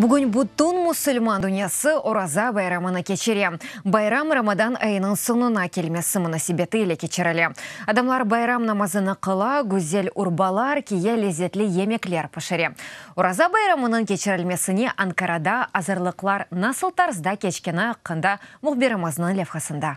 Bugün bütün musulman dünyası Oraza bayramını keçire. Bayram Ramadan ayınıñ soñuna kelmesi munasebeti ile keçirile. Adamlar bayram namazını qıla, güzel urbalar kiye, lezzetli yemekler pişire. Oraza bayramınıñ keçirilmesine Ankarada azırlıqlar nasıl tarzda keçkeni aqqında mühbirimizniñ levhasında.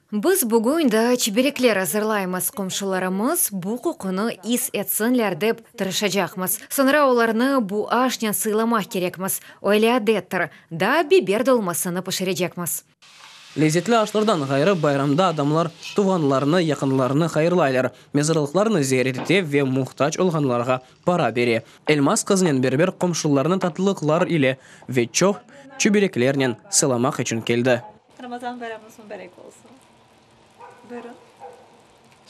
Biz bugün daa çiberikler azırlaymız, qomşularımız bu qoqunı is etsinler dep tırışacaqmız. Soñra olarnı bu aşnen sıylamaq kerekmiz, öyle adettir. Daa biber dolmasını pişirecekmiz. Lezzetli aşlardan ğayrı, bayramda adamlar tuvğanlarını, yaqınlarını hayırlaylar, mezarlıqlarnı ziyaret ete ve muhtac olğanlarğa para bere. Elmaz qızınen berber qomşularını tatlılıqlar ile ve çoq çiberiklernen sıylamaq içün keldi. Ramazan bayramınız mübarek olsun. Buyurun.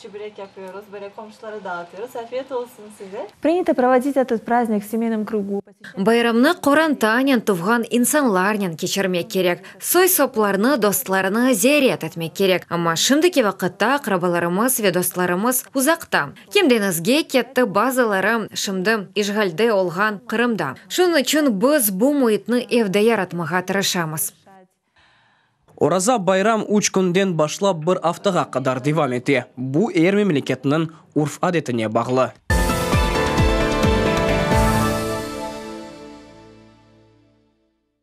Çübrek yapıyoruz, böyle qomşulara dağıtıyoruz. Afiyet olsun size. Prinято provodit etet praznik v semeynom krugu. Bayramnı qorantanen, tuvğan insanlarnen keçirmek kerek. Soy-soplarnı, dostlarnı ziyaret etmek kerek. Amma şimdiki vaqıtta aqrabalarımız ve dostlarımız uzaqta. Kim deñizge ketti, bazıları şimdi işğalde olğan Qırımda. Şunıñ içün biz bu müitni evde yaratmağa tırışamız. Oraza bayram üç künden başlap bir aftağa qadar devam ete. Bu er memleketniñ urf-adetine bağlı.